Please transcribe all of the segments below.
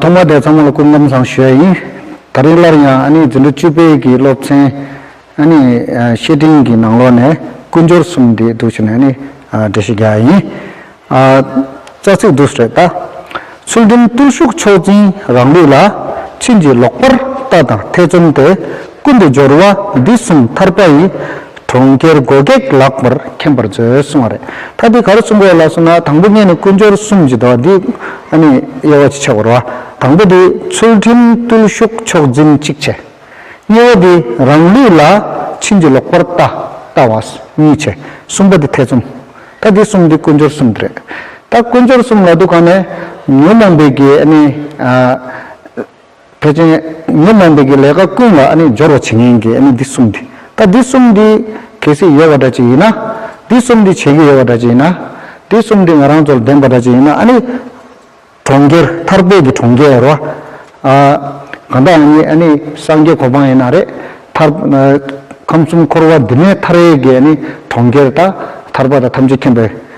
ཐོག་མར་དེ་ཚང་མ་ལ་སྐུ་ཁམས་བཟང་ཞུ་ཡ་ཡིན། ད་རེས་སླར་ཡང་ཨ་ནེ་རྫུན་སྒྲོལ་བཅུ་དཔལ་གྱི་སློབ་ཚན་ཨ་ནེ་བཤེས་སྤྲིང་གི་ནང་ལོགས་ནས་ཀུན་སྦྱོར་གསུམ་འདི་བསྡུ་ཞུ་ནས་ཨ་ནེ་འབྲི་ཞུ་རྒྱག་ཡ་ཡིན། རྩ་ཚིག་བསྡུ་སུ་རེད་ད། ཚུལ་ཁྲིམས་བརྟུལ་ཞུགས་མཆོག་འཛིན་རང་ལུགས་ལ། ཕྱིན་ཅི་ལོག་པར་ལྟ་དང་ཐེ་ཚོམ་སྟེ། ཀུན་ཏུ་སྦྱོར་བ་འདི་གསུམ་ཐར་པ་ཡི། གྲོང་ཁྱེར་སྒོ་གེགས་ལགས་པར་མཁྱེན་པར་མཛོད་གསུང་བ་རེད། ད་འདི་ག་རུ་གསུང་དགོས་ལགས་སོང་ན་དང་པོ་གཉིས་ནི་ཀུན་སྦྱོར་གསུམ་གྱི་མདོ་འདི་ཨ་ནི་དབྱེ་བ་གཅིག་ཆགས་པར་བ། དང་པོ་འདི་ཚུལ་ཁྲིམས་བརྟུལ་ཞུགས་མཆོག་འཛིན་གཅིག་ཆེ། གཉིས་བ་འདི་རང་ལུས་ལ་ཕྱིན་ཅི་ལོག་པར་ལྟ་བ་གཉིས་ཆེ། གསུམ་པ་འདི་ཐེ་ཚོམ། ད་འདི་གསུམ་འདི་ཀུན་སྦྱོར་གསུམ་འདི་རེད། ད་ཀུན་སྦྱོར་གསུམ་ལ་འདུག་ག་ནས་ཉོན་མོངས་པའི་གེགས་ཨ་ནི། ཕལ་ཆེན་ངས་གནང་འདོད་ཀྱི་ལས་ཀ་ཀུན་ལ་སྦྱོར་བ་བྱེད་མཁན་གྱི་འདི་གསུམ་དེ། ད་འདི་གསུམ་འདི་གལ་སྲིད་ཡོད་པ་འདྲ་ཅིག་ཡིན་ན། འདི་གསུམ་འདི་བྱེད་ཀྱི་ཡོད་པ་འདྲ་ཅིག་ཡིན་ན། འདི་གསུམ་འདི་ང་རང་ཚོར་ལྡན་པ་འདྲ་ཅིག་ཡིན་ན་ཨཱ་ནི། གྲོང་ཁྱེར་ཐར་པའི་གི་གྲོང་ཁྱེར་རོ། གང་ལྟར་ཡང་ཨཱ་ནི་སངས་རྒྱས་གོ་འཕང་ཡིན་ན་རེད། ཐར། ཁམས་གསུམ་འཁོར་བ་འདི་མའི་མཐར་ཡས་ཀྱི་གྲོང་ཁྱེར་དང་ཐར་པ་དང་ཐམས་ཅད་མཁྱེན་པའི།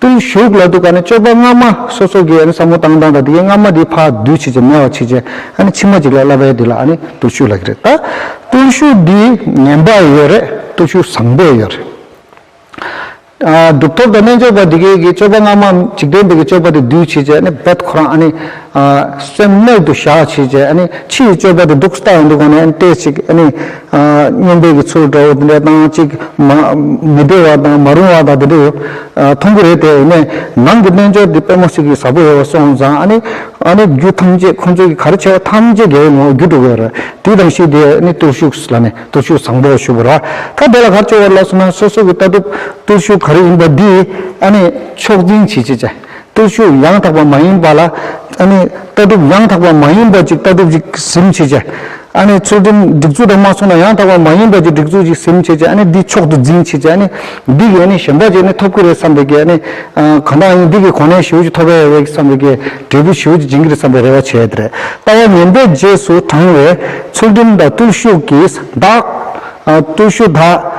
བརྟུལ་ཞུགས་ལ་འདུག་ག་ནི་སྤྱོད་པ་སྔ་མ་སོ་སོ་གི་ས་མོ་བཏང་བཏང་དང་དེ་གའི་སྔ་མ་དེའི་ཕག་བདུད་ཕྱིས་ཀྱི་སྨེ་བ་ཕྱིས་ཀྱི་ཨ་ནི་ཕྱི་མ་གཅིག་ལ་བསླབ་པའི་དུས་ལ་ཨ་ནི་བརྟུལ་ཞུགས་ལ་གི་རེད་ད་བརྟུལ་ཞུགས་འདི་ངན་པ་ཡོད་རེད་བརྟུལ་ཞུགས་བཟང་པོ་ཡོད་རེད། གྲུབ་ཐོབ་དང་རྣལ་འབྱོར་པ་འདི་གའི་གི་སྤྱོད་པ་སྔ་མ་འཇིག་རྟེན་པའི་གི་སྤྱོད་པ་དེ་བདུད་ཕྱིས་ཀྱི་ཨ་ནི་བད་ཁོ་རང་ཨ་ནི། སེམས་རྣལ་དུ་བཞག་བྱས་རྗེས་ཕྱིའི་སྤྱོད་པ་དེ་སྡུག་ས་ལྟ་བུ་འདུག་གོ་ནས་བལྟས་ཤིག། སྨྱོན་འབེབས་ཀྱི་ཚུལ་འདྲ་བོ་དེ་འདྲའི་སྟངས་གཅིག་མི་བདེ་བ་དང་མ་རུང་བ་དང་དེ་འདྲ་ཡོད་མཐོང་གི་རེད་དེ། ནང་གི་རྣལ་འབྱོར་དེ་དཔོན་མོ་ཞིག་གི་ཟབ་པོ་ཡོད་པ་སོང་ཙང་རྒྱུད་ཐམས་ཅད་ཁོ་ཚོ་གི་ག་རེ་བྱས་པ་ཐམས་ཅད་དགེ་བའི་ངོ་བོར་འགྱུར་འགྲོ་གི་ཡོད་རེད། དེའི་དང་ཤུལ་དེ་བརྟུལ་ཞུགས་ལ་ནི་བརྟུལ་ཞུགས་བཟང་པོ་ཞུ་དགོས་ར་ད་དེ་ལ་གར་བཅོལ་བ་ལ་སོང་ན་སོ་སོ་གི་ལྟ་གྲུབ་བརྟུལ་ཞུགས་ག་རེ་ཡིན་པ་འདི་ཕྱོགས་འཛིན་བྱེད་ཅེས་བྱ། བསྟོད་ཕྱུག་ཡང་དག་པ་མ་ཡིན་པ་ལ། ཨ་ནི། ལྟ་གྲུབ་ཡང་དག་པ་མ་ཡིན་པ་ཅིག་ལྟ་གྲུབ་ཅིག་གཟིམ་བྱེད་ཀྱི། ཨ་ནི། ཚུལ་ཁྲིམས་སྒྲིག་འཛུགས་དང་མ་མཚུངས་ན་ཡང་དག་པ་མ་ཡིན་པ་ཅིག་སྒྲིག་འཛུགས་ཅིག་གཟིམ་བྱེད་ཀྱི་ཨ་ནི། འདི་མཆོག་ཏུ་འཛིན་བྱེད་ཀྱི་ཨ་ནི། འདི་གིས་ཨ་ནི་གཞན་པ་ཅིག་ནི་ཐོབ་ཀྱི་རེད་བསམ་པའི་གི་ཨ་ནི། གང་དག་ཨ་ནི་འདི་གིས་གོང་ནས་ཞེའུ་ཅིག་ཐོབ་པའི་རེད་བསམ་པའི་གི། འབྲས་བུ་ཞེའུ་ཅིག་འབྱིན་གྱི་རེད་བསམ་པའི་རེ་བ་བྱས་ཏེ་རེད། ལྟ་བ་ངན་པའི་རྗེས་སུ་འབྲང་བའི། ཚུལ་ཁྲིམས་དང་བརྟུལ་ཞུགས་ཀྱིས་བདག། བརྟུལ་ཞུགས་དག།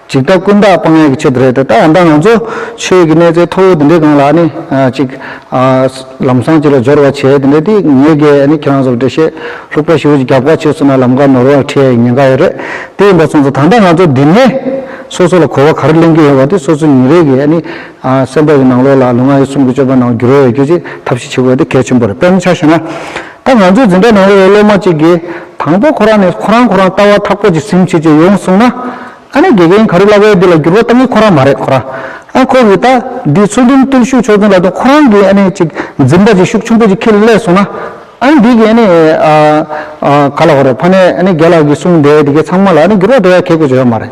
ཅིག་ད་ཀུན་བརྟགས་སྤང་ཡས་ཀྱི་ཆེད་དུ་རེད་དེ་ད་ཡང་དག་ང་ཚོ་ཆོས་ཀྱི་གནས་ཚད་མཐོ་བོ་འདི་འདྲའི་སྒང་ལ་ནི་ཅིག་ལམ་སང་ཅིག་ལ་སྦྱོར་བ་བྱས་དེ་འདྲ་དེ་ངེད་ཀྱི་ནི་ཁྱེད་རང་ཚོར་འགྲེལ་བཤད་ལྷུག་པོ་ཞུ་རྒྱུ་རྒྱབ་ཁ་ཆོད་སོང་ན་ལམ་ཁ་ནོར་བར་ཁྲེལ་ཡས་ཉེན་ཁ་ཡོད་རེད་དེ་ཡིན་པ་སོང་ཚོ་ད་ལྟ་ང་ཚོ་འདི་ནས་སོ་སོ་ལ་གོ་བ་ག་རེ་གླེང་གི་ཡོད་པ་དེ་སོ་སོ་ཉིན་རེ་གི་ནི་སེམས་པ་ཡི་ནང་ལོགས་ལ་ལུས་ངག་ཡིད་གསུམ་གྱི་སྤྱོད་པ་ནང་འགྱུར་བ་ཡོད་རྒྱུ་ཅིག་ཐབས་ཤེས་བྱེད་དགོས་དེ་གལ་ཆེན་པོ་རེད་དཔེར་ན་ཆ་ཤས་ན་ད་ང་ཚོའི་འཛིན་གྲྭ་ནང་ཡོད་པའི་སློབ་མ་གཅིག་གིས་དང་པོ་ཁོ་རང་ནས་ཁོ་རང་ཁོ་རང་ལྟ་བ་ཐག་པོ་ཅིག་ཟིན་ཕྱིན་ཅི་ཡོང་གསུངས་ན། ཨ་ནེ་དགེ་རྒན་ག་རེ་ལབ་ཡོད་འདི་ལ་འགྱུར་བ་གཏང་གི་ཁོ་རང་མ་རེད་ཁོ་རང་ཨ་ཁོ་གིས་ད་འདི་ཚུལ་ཁྲིམས་བརྟུལ་ཞུགས་ཆོས་ཚུལ་ལ་དོན་ཁོ་རང་གིས་ཨ་ནེ་ཅིག་འཛིན་པ་ཅིག་ཤུགས་ཆུང་པོ་ཅིག་ཁྱེད་ལ་གླས་གསུངས་ན། ཨ་ནེ་འདི་གིས་ཨ་ནེ་ག་ལ་གོ་རེད་ཕ་ནེ་ཨ་ནེ་རྒྱལ་ལགས་ཀྱིས་གསུངས་འདས་འདི་གའི་ཚང་མ་ལ་ཨ་ནེ་འགྱུར་བ་འགྲོ་ཡ་གལ་དགོས་ཅི་ཡོད་མ་རེད།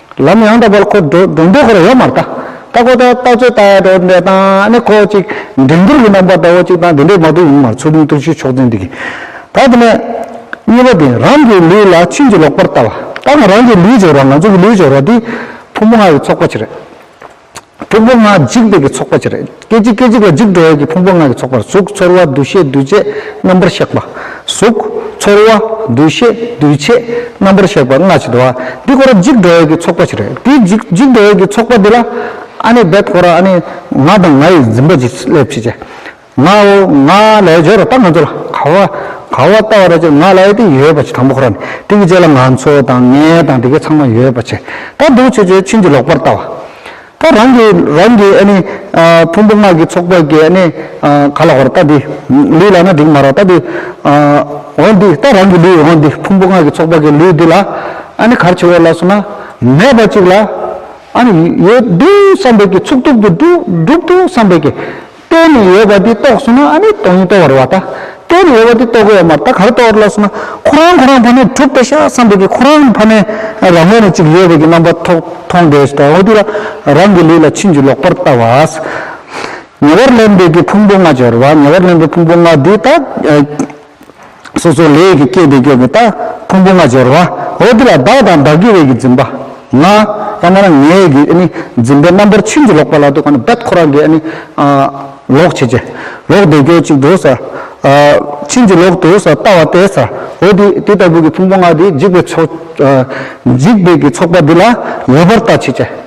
ལམ་ཡང་དག་པར་ཁོ་འགྲོ་འགྲོ་འདོད་ཁོར་ཡོག་མར་ལྟ། ལྟ་ཁོ་ལྟ་ལྟ་ཚོད་ལྟ་ཡག་འགྲོ་འདོད་ལྟ། ནི་ཁོ་ཅིག་འགྲན་བསྡུར་གྱི་རྣམ་པར་ལྟ་བ་ཅིག་དང་དེ་འདྲའི་མ་དུ་ཡིན་མར་ཚུར་ལུས་བརྟུལ་ཞུགས་མཆོག་འཛིན་འདི་གི། ད་དེ་ནས། གཉིས་པ་དེ་རང་གི་ལུས་ལ་ཕྱིན་ཅི་ལོག་པར་ལྟ་བ། ལྟ་ན་རང་གི་ལུས་སྦྱོར་བ་ང་ཚོ་གི་ལུས་སྦྱོར་བ་འདི། ཐུན་མོང་ང་ཡི་ཚོགས་པ་ཅི་རེད། ཕུང་པོ་ལྔ་འཇིག་འདོད་ཀྱི་ཚོགས་པ་ཅིག་རེད། སྐད་ཅིག་སྐད་ཅིག་ལ་འཇིག་འགྲོ་བ་ཡི་ཕུང་པོ་ལྔ་གི་ཚོགས་པར་གཟུགས་ཚོར་བ་འདུ་ཤེས་འདུས་བྱས་རྣམ་པར་གཤེགས་པ། གཟུགས། ཚོར་བ། འདུ་ཤེས། འདུས་བྱས། རྣམ་པར་གཤེགས་པ་ལྔ་ཅིག་འདུ་བ། འདི་ཀོ་ར་འཇིག་འགྲོ་བ་ཡི་ཚོགས་པ་ཅིག་རེད། དེ་འཇིག་འཇིག་འགྲོ་བ་ཡི་ཚོགས་པ་འདི་ལ། ཨ་ནི་བད་ཀོ་ར་ཨ་ནི། ང་དང་ང་ཡི་འཛིན་པ་ཅིག་སླེབས་བྱེད་ཅེས། ང་ང་ལས་སྦྱོར་བ་ལྟ་ང་ཚོ་ལ་ག་བ་ག་བ་ལྟ་བ་རེད་ཅེ་ང་ལ་ཡོད་དེ་ཡོད་པ་ཆེ་དང་པོ་ཁོ་ར་ནས་དེ་གི་རྗེས་ལ་ང་ཚོ་དང་ངས་དང་དེ་གི་ཚང་མ་ཡོད་པ་ཆེ་ད་འདུག་ཆེ་ཆེ་ཕྱིན་ཅི་ལོག་པར་ལྟ་བ་ད་རང་གི་རང་གི་ཨ་ནི་ཕུང་པོ་སྔགས་ཀྱི་ཚོགས་པ་གི་ཨ་ནི་ག་ལ་བར་ལྟ་འདི་ལུས་ལ་ན་འགྲིག་མ་ར་ལྟ་འདི་འོ་འདི་ད་རང་གི་ལུས་འོ་འདི་ཕུང་པོ་སྔགས་ཀྱི་ཚོགས་པ་གི་ལུས་འདི་ལ་ཨ་ནི་གར་ཆེ་བ་ལ་སོང་ན་མེད་པ་ཅིག་ལ་ཨ་ནི་ཡོད་འདུག་བསམ་པའི་གི་ཚུགས་ཐུབ་ཏུ་འགྲུབ་འདུག་བསམ་པའི་གི། ལྟོས་ནས་ཡོད་པ་འདི་རྟོགས་སོང་ན་ཨ་ནི་སྟོང་ཉིད་རྟོགས་བར་བ་ད། ལྟོས་ནས་ཡོད་པ་འདི་རྟོགས་དགོས་བ་མ་རེད་ད་ག་རེ་རྟོགས་བར་ལགས་སོ་ན། ཁོ་རང་ཁོ་རང་ཕ་མས་དྲུག་པའི་ཤ་བསམ་པའི་གི་ཁོ་རང་ཕ་མས་རང་ངོས་ནས་ཅིག་ཡོད་བའི་གི་རྣམ་པ་ཐོག་མཐོང་འདས་སུ་དོགས་དུས་ལ་རང་གི་ལུས་ལ་ཕྱིན་ཅི་ལོག་པར་ལྟ་བ། ཉེ་བར་ལེན་པའི་གི་ཕུང་པོ་ལྔ་སྦྱོར་བ་ཉེ་བར་ལེན་པའི་ཕུང་པོ་ལྔ་འདི་དག། སོ་སོ་ལས་ཀྱིས་སྐྱེས་པའི་སྐྱེ་བོ་དག་ཕུང་པོ་ལྔ་སྦྱོར་བ་འོ་དེ་ལ་བདག་དང་བདག་གི་བའི་གིས་འཛིན་པ་ང་ཡང་ན་ངའི་གིས་འཛིན་པའི་རྣམ་པར་ཕྱིན་ཅི་ལོག་པ་ལ་དུ་ག་ནི་བདག་ཁོ་རང་གིས་ལོག་བྱེད་ཀྱི་ལོག་འདོད་ཀྱི་ཅིག་དུ་ཟ། ཕྱིན་ཅི་ལོག་ཏུ་ཟ་ལྟ་བ་སྟེ་ཟ་འོ་དེ་དེ་ལྟ་བུ་གི་ཕུང་པོ་ལྔ་དེ་འཇིག་པའི་ཚོགས་འཇིག་པའི་གིས་ཚོགས་པ་འདི་ལ་ངེས་པར་ལྟ་བྱེད་ཀྱི།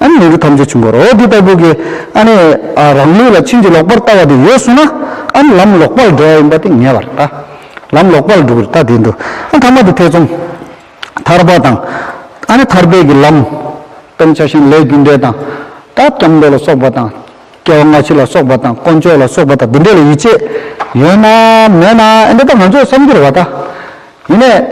ཨ་ནི་མི་རིགས་ཐམས་ཅད་བྱུང་བར་འོ་འདི་ལྟ་བུ་གི་ཨ་ནི་རང་ལུས་ལ་ཕྱིན་ཅི་ལོག་པར་ལྟ་བ་དེ་ཡོད་གསུངས་ན་ཨ་ནི་ལམ་ལོག་པར་འགྲོ་བ་ཡིན་པ་དེ་ངེས་པར་ལྟ། ལམ་ལོག་པར་འགྲོ་བར་ལྟ་དེ་འདུག་ཨ་ཐ་མ་དེ་ཐེ་ཚོམ། ཐར་པ་དང། ཨ་ནི་ཐར་པའི་གི་ལམ། སྟོང་ཆ་ཞིང་ལས་རྒྱུ་འབྲས་དང། ད་སྐྱབས་འགྲོ་ལ་སོགས་པ་དང། སྐྱེ་བ་སྔ་ཕྱི་ལ་སོགས་པ་དང་དཀོན་མཆོག་ལ་སོགས་པ་དང་འདི་འདྲ་ལ་ཡིད་ཆེས་ཡོད་ན་མེད་ན་ཨ་འདི་ལྟར་ང་ཚོས་བསམ་རྒྱུར་བ་ལྟ། ཡིན་ནས།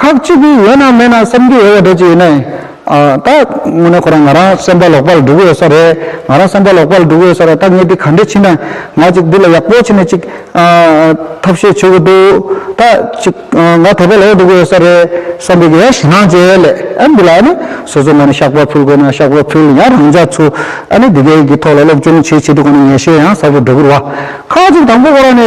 ཁག་གཅིག་གིས་ཡོད་ན་མེད་ན་བསམ་གྱི་ཡོད་པ་འདྲ་ཅིག་ཡིན་ནས། ད་དངོས་གནས་ཁོ་རང་ང་རང་སེམས་པ་ལོག་པར་འགྲོ་གི་ཡོད་ས་རེད། ང་རང་སེམས་པ་ལོག་པར་འགྲོ་གི་ཡོད་ས་རེད་ད་ངས་འདི་ག་འདྲས་ཕྱིན་ན་ང་གཅིག་འདི་ལ་ཡག་པོ་ཕྱིན་ནས་ཅིག་ཐབས་ཤེས་བྱེད་དགོས་འདུག་ད་ཅིག་ང་དེ་ཕོ་ལོག་འགྲོ་གི་ཡོད་ས་རེད་བསམ་པའི་གེ་ཞེ་སྣང་བྱས་ལས་ཨ་འདི་ལ་ཨ་ནི་སོ་སོ་ང་ནི་ཤག་པ་ཕུལ་དགོས་ན་ཤག་པ་ཕུལ་ཡང་རང་ཅག་ཚོ་ཨ་ནི་འདི་གའི་གི་ཐོག་ལ་སློབ་སྦྱོང་བྱེད་བྱེད་དུ་ག་ནས་ངེས་ཤེས་ཡང་ཟབ་པོ་འགྲོ་གི་རུ་བ། ཁག་གཅིག་དང་པོ་ཁོ་རང་ནས།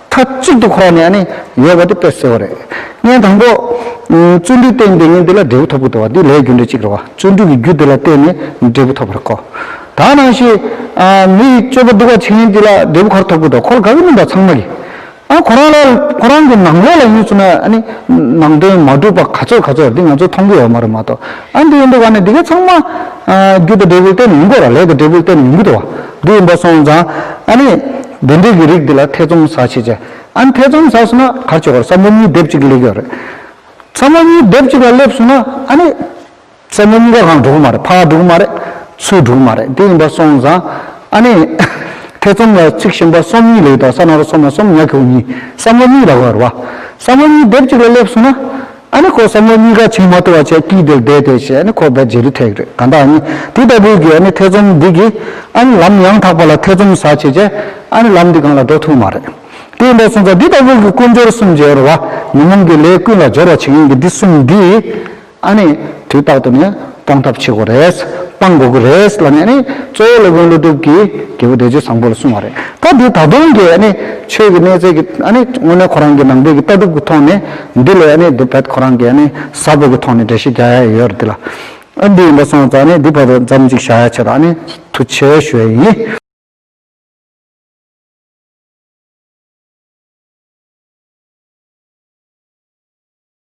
མཐའ་གཅིག་ཏུ་འཁོར་བ་ནི་ཡང་ནི་ཡོད་པ་དེ་དཔེར་གསལ་བོ་རེད། ངས་དང་པོ། བརྩོན་འགྲུས་བརྟེན་ཏེ་ངས་འདི་ལ་འབྲས་བུ་ཐོབ་ཀྱི་འདུག་བ་འདི་ལས་རྒྱུ་འབྲས་གཅིག་རེད་བ། བརྩོན་འགྲུས་ཀྱི་རྒྱུ་དེ་ལ་བརྟེན་ནས་འབྲས་བུ་ཐོབ་པར་གོ། ད་ནང་བཞིན། མི་ཡི་སྤྱོད་པ་སྡུག་བ་བྱས་ནས་འདི་ལ་འབྲས་བུ་ག་རེ་ཐོབ་ཀྱི་འདུག་ཁོ་ལ་དགའ་གི་མིན་པ་ཚང་མ་གིས། ཨ་ཁོ་རང་ལ་ཁོ་རང་གི་ནང་ལོགས་ལ་ཡོད་ཚུལ་ནི་ཨ་ནི། ནང་དོན་མ་གྲུབ་པ་ག་ཚོད་ག་ཚོད་འདི་ང་ཚོས་མཐོང་གི་ཡོད་མ་རེད་མ་གཏོགས་ཨ་འདི་ཡིན་འདུག་བ་ནི་འདི་ག་ཚང་མ། རྒྱུ་དང་འབྲས་བུར་བརྟེན་ནས་ཡིན་དགོས་ར་ལས་དང་འབྲས་བུར་བརྟེན་ནས་མིན་གྱི་འདུག་བ། འདི་ཡིན་པ་སོང་ཙང་ཨ་ནི། འདི་འདྲའི་གི་རིགས་འདི་ལ་ཐེ་ཚོམ་ཟ་བྱེད་ཅེས། ཨན་ཐེ་ཚོམ་ཟ་སོང་ན་གར་ཆོག་གར་ས་མོ་གཉིས་སྡེབ་གཅིག་ལེགས་ཡོད་རེད། ས་མོ་གཉིས་སྡེབ་གཅིག་ལ་སླེབས་སོང་ན་ཨ་ནི། ས་མོ་གཉིས་ཀ་གང་འགྲོ་གི་མ་རེད་ཕ་ག་འགྲོ་གི་མ་རེད། ཚུལ་འགྲོ་གི་མ་རེད་དེ་ཡིན་པ་སོང་ཙང། ཨ་ནི། ཐེ་ཚོམ་ལ་ཚིག་ཞིམ་པ་གསུམ་གཉིས་ལེགས་འདུག་ས་ན་རོ་སོ་མ་གསུམ་ཉག་གི་བུ་གཉིས་ས་མོ་གཉིས་ལ་གོ་རེད་བ། ས་མོ་གཉིས་སྡེབ་གཅིག་ལ་སླེབས་སོང་ན། ཨ་ནི་ཁོ་བསམ་བློ་གཉིས་ཀ་ཆིངས་མ་ཐུབ་བ་ཆེ་སྐྱིད་དེར་བསྡད་དེ་ཞེས་ཨ་ནི་ཁོ་བོས་རྗེས་རི་ཐེག་རེད་གང་ལྟར་ཨ་ནི་དེ་ལྟ་བུའི་གིས་ཨ་ནི་ཐེ་ཚོམ་འདི་གིས་ཨ་ནི་ལམ་ཡང་དག་པ་ལ་ཐེ་ཚོམ་ཟ་བྱེད་ཅེས་ཨ་ནི་ལམ་འདི་གང་ལ་འགྲོ་ཐུབ་མ་རེད། དེ་འདྲ་སོང་ཙང་འདི་ལྟ་བུ་གི་ཀུན་སྦྱོར་གསུམ་སྦྱོར་བ་ཉོན་མོངས་ཀྱི་ལས་ཀུན་ལ་སྦྱོར་བ་བྱེད་མཁན་གྱི་འདི་གསུམ་འདིས་ཨ་ནི་དུས་རྟག་ཏུ་ནི། སྤང་ཐབས་བྱེད་དགོས་རེད། སྤང་དགོས་ཀྱི་རེད་ལ་ནི་གཙོ་བོ་སློབ་དཔོན་ཀླུ་སྒྲུབ་ཀྱིས་རྒྱལ་པོ་བདེ་སྤྱོད་བཟང་པོ་ལ་གསུངས་བ་རེད། སྐབས་དེའི་ད་དུང་གི་ཆོས་ཀྱི་གནས་ཚད་ཀྱི་དངོས་གནས་ཁོ་རང་གི་ནང་པའི་ཀྱི་ལྟ་གྲུབ་ཀྱི་ཐོག་ནས་འདི་ལས་དེ་བས་ཁོ་རང་གི་ཟབ་པོ་ཀྱི་ཐོག་ནས་འགྲེལ་བཤད་རྒྱག་ཡ་ཡོད་རེད་འདི་ལ། འདི་ཡིན་པ་སོང་ཙང་འདི་བར་དུ་ཙམ་ཅིག་བཞག་ཡ་ཆེད་དུ་ཐུགས་ཆེ་ཞུ་བ་ཡིན།